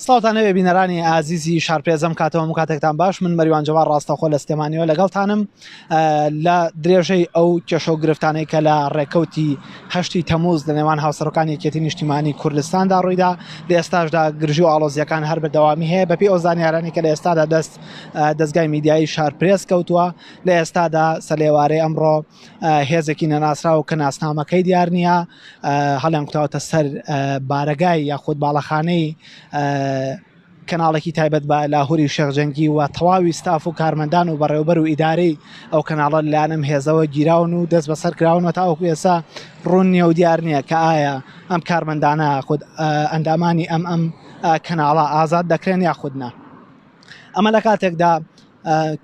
سڵاوتان نەوێ بینەرانی ئازیزی شارپێزم کاتەوە و کاتێکتان باش من مەریوان جەوان ڕاستەخۆ لە سلێمانیەوە لەگەڵتانم لە درێژەی ئەو کێشە و گرفتانەی کە لە ڕێکەوتی هەشتی تەموز لە نێوان هاوسەرەکانی یەکێتی نیشتیمانی کوردستاندا ڕوویدا لە ئێستاشدا گرژی و ئاڵۆزیەکان هەر بەدەوامی هەیە بەپی ئەو زانیارانی کە لە ئێستادا دەست دەستگای میدیایی شارپرێس کەوتووە لە ئێستادا سەلێوارەی ئەمڕۆ هێزێکی نەناسراو کە ناسنامەکەی دیار نییە هەڵیان کوتاوتە سەر بارەگای یاخود باڵەخانەی کەناڵێکی تایبەت بە لاهوری و شەخجەنگی و تەواوی ستاف و کارمەندان و بەڕێوبەر و ئیدارەی ئەو کەناڵە لایەنم هێزەوە گیراون و دەست بەسەر کراونەوە تاوەکو ئێسا ڕوون نیە و دیار نییە کە ئایا ئەم کارمەندانە خود ئەندامانی ئەم ئەم کەناڵە ئازاد دەکرێن یاخودنا. ئەمە لە کاتێکدا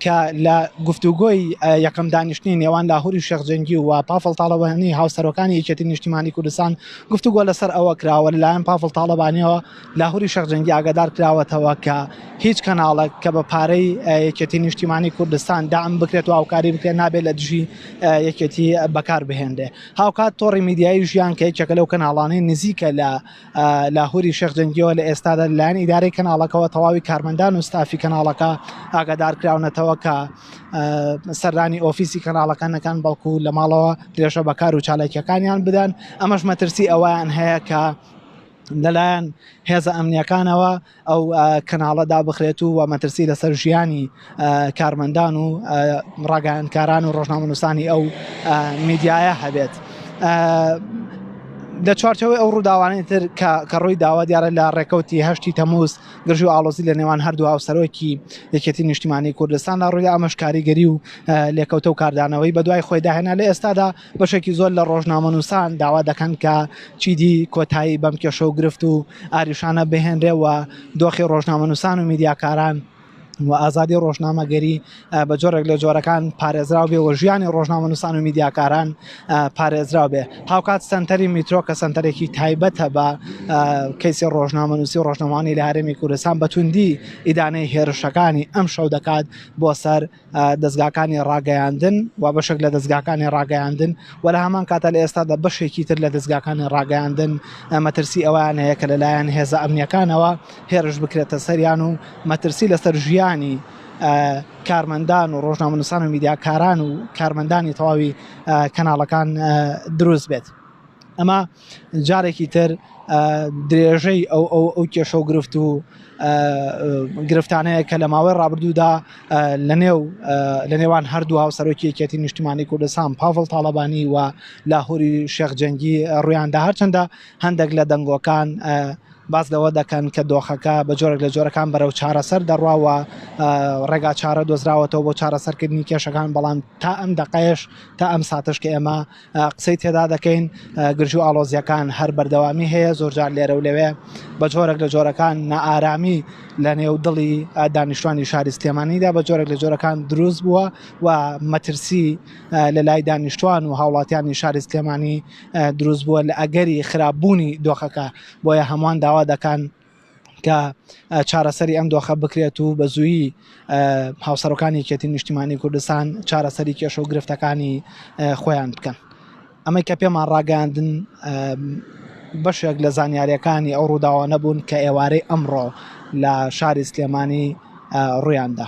کە لە گفتوگۆی یەکەم دانیشتنی نێوان لاهوری شێخ جەنگی و پافڵ تاڵەبانی هاوسەرۆکانی یەکێتی نیشتیمانی کوردستان گفتوگۆ لەسەر ئەوە کراوە لەلایەن پافڵ تاڵەبانیەوە لاهوری شێخ جەنگی ئاگادار کراوەتەوە کە هیچ کەناڵێک کە بە پارەی یەکێتی نیشتیمانی کوردستان دام بکرێت و هاوکاری بکرێت نابێت لە دژی یەکێتی بەکار بهێنرێ هاوکات تۆڕی میدیایی ژیان کە یەکێکە لەو کەناڵانەی نزیکە لە لاهوری شێخ جەنگیەوە لە ئێستادا لەلایەن ئیدارەی کەناڵەکەەوە تەواوی کارمەندان و ستافی کەناڵەکە ئاگادارکراونەتەوە کە سەردانی ئۆفیسی کەناڵەکان نەکان بەڵکو لە ماڵەوە درێژە بەکار و چالاکیەکانیان بدەن ئەمەش مەترسی ئەویان هەیە کە لەلایەن هێزە ئەمنیەکانەوە ئەو کەناڵە دابخرێت و وە مەترسی لەسەر ژیانی کارمەندان و ڕاگەیانکاران و ڕۆژنامەنووسانی ئەو میدیایە هەبێت. لە چوارچەوەی ئەو ڕووداوانەی تر کە ڕووی داوا دیارە لە ڕێکەوتی هەشتی تەموز گرژ و ئاڵۆزی لە نێوان هەردوو هاوسەرۆکی یەکێتی نیشتیمانی کوردستان لە ڕووی ئەمەش کاریگەری و لێکەوتە و کاردانەوەی بەدوای خۆی داهێنا لە ئێستادا بەشێکی زۆر لە ڕۆژنامەنووسان داوا دەکەن کە چیدی کۆتایی بەم کێشە و گرفت و ئاریشانە بهێنرێەوە دۆخی ڕۆژنامەنووسان و میدیاکاران و ئازادی ڕۆژنامەگەری بە جۆرێک لە جۆرەکان پارێزراو بێ وە ژیانی ڕۆژنامە نووسان و میدیاکاران پارێزراو بێ هاوکات سنتەری میترۆ کە سنتەرێکی تایبەتە بە کەیسی ڕۆژنامە نووسی ڕۆژنەوانی لە هەرێمی کوردستان بەتوندی ئیدانەی هێرشەکانی ئەم شەو دەکات بۆ سەر دەزگاکانی ڕاگەیاندن و بەشێک لە دەزگاکانی ڕاگەیاندن و لە هەمان کاتە لە ئێستادا بەشێکی تر لە دەزگاکانی ڕاگەیاندن مەترسی ئەوان هەیە کە لەلایەن هێزە ئەمنیەکانەوە هێرش بکرێتە سەریان و مەترسی لەسەر ژیانی کارمەندان و ڕۆژنامەنووسان و میدیاکاران و کارمەندانی تەواوی کەناڵەکان دروست بێت. ئەمە جارێکی تر درێژەی ئەو ئەو ئەو کێشە و گرفت و گرفتانەیە کە لە ماوەی ڕابردوودا لە نێو لە نێوان هەردوو هاو سەرۆکی یەکێتی نیشتمانی کوردستان پاڤڵ تاڵەبانی و لاهوری شێخ جەنگی ڕویاندا هەرچەندە هەندێک لە دەنگۆکان باز لەوە دەکەن کە دۆخەکە بە جۆرێک لە جۆرەکان بەرەو چارەسەر دەڕواوە ڕێگا چارە دۆزراوەتەوە بۆ چارەسەرکردنی کێشەکان بەڵام تا ئەم دقەیش تا ئەم ساتش کە ئێمە قسەی تێدا دەکەین گرژو ئاڵۆزیەکان هەر بەردەوامی هەیە زۆرجار لێرە و لەوێ بە جۆرەك لە جۆرەکان نائارامی لە نێو دڵی دانیشتوانی شاری سلێمانیدا بە جۆرەك لە جۆرەکان دروست بووە و مەترسی لە لای دانیشتوان و هاوڵاتیانی شاری سلێمانی دروست بووە لە ئەگەری خراپبوونی دۆخەکە بۆیە هەمووان داوا دەکەن کە چارەسەری ئەم دۆخە بکرێت و بە زوویی هاوسەرۆکانی یەکێتی نیشتیمانی کوردستان چارەسەری کێشە و گرفتەکانی خۆیان بکەن ئەمەی کە پێمان ڕاگەاندن بەشێک لە زانیاریەکانی ئەو ڕووداوە نەبوون کە ئێوارەی ئەمڕۆ لە شاری سلێمانی ڕویاندا